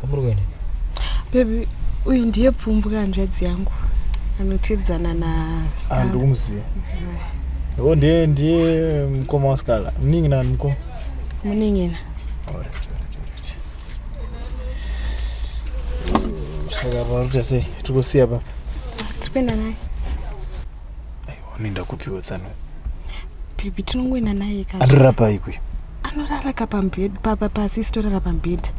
kwamuri kuenda bebi uyu ndiye pfumbwa hanzvadzi yangu anotidzana na ah, ndikumuziva o ndiye ndiye mukoma waskala muningi nani mukoma muningina saka paruta sei tikusiya papa tikuenda naye unoenda kupiwo tsano baby tinongoenda naye ka anorara pai kuyo anorara ka pambed papa pasi sitorara pambed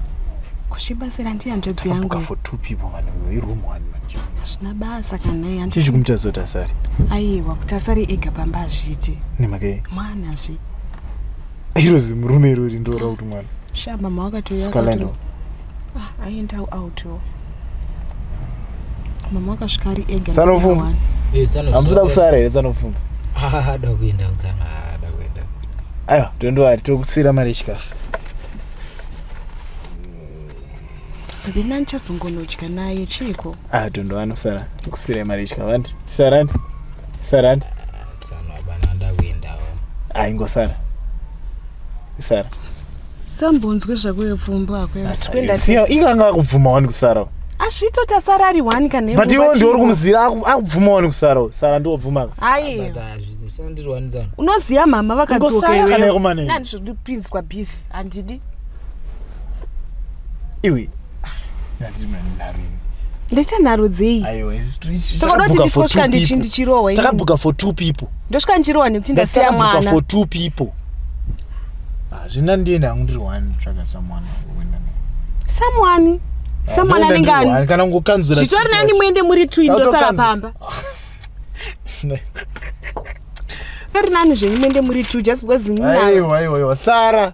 kushibasira ndiye hanzvadzi yangu for two people man we room one man hazvina basa kana iye handichi kumita zotasari aiwa kuti asari ega pamba azviite nemake mwana zvi iro zimurume irori ndoora kuti mwana shaa mama wakatoya Ah, aenda out oh. mama akasvika ari ega Tsanofumba. Eh, tsano hamusida zvawo. kusara here tsanopfumba Ah, ada kuenda kutsano ah, ada kuenda aiwa tondowari tokusira mari yechikafu rina ndichazongonodya naye chiiko ah tondo anosara kusira mari yechikafu andi tisara andi tisara andi aingosara isara sambonzwe zvakuyo pfumbo akoyasiyo inga anga akubvuma wani kusara azvito tasara ari wani kane but iwo ndiwo uri kumuzira akubvuma wani kusara sara ndiwo bvuma ayi unoziva mama vakadzoka iweyo nani zviri kupinzwa bisi handidi iwe ndaita nharo dzei saka unoti ndisvika ndichirohwa takabhuka for two people ndosvika ndichirohwa nekuti ndasiya mwana for two people hazvina ah, ndiye ndangu ndiri one tsvaga samwana samwani ah, samwana anenge ani kana kungokanzura zvitori nani muende muri two ndosara pamba tori nani zvenyu muende muri two just because aiwa aiwa sara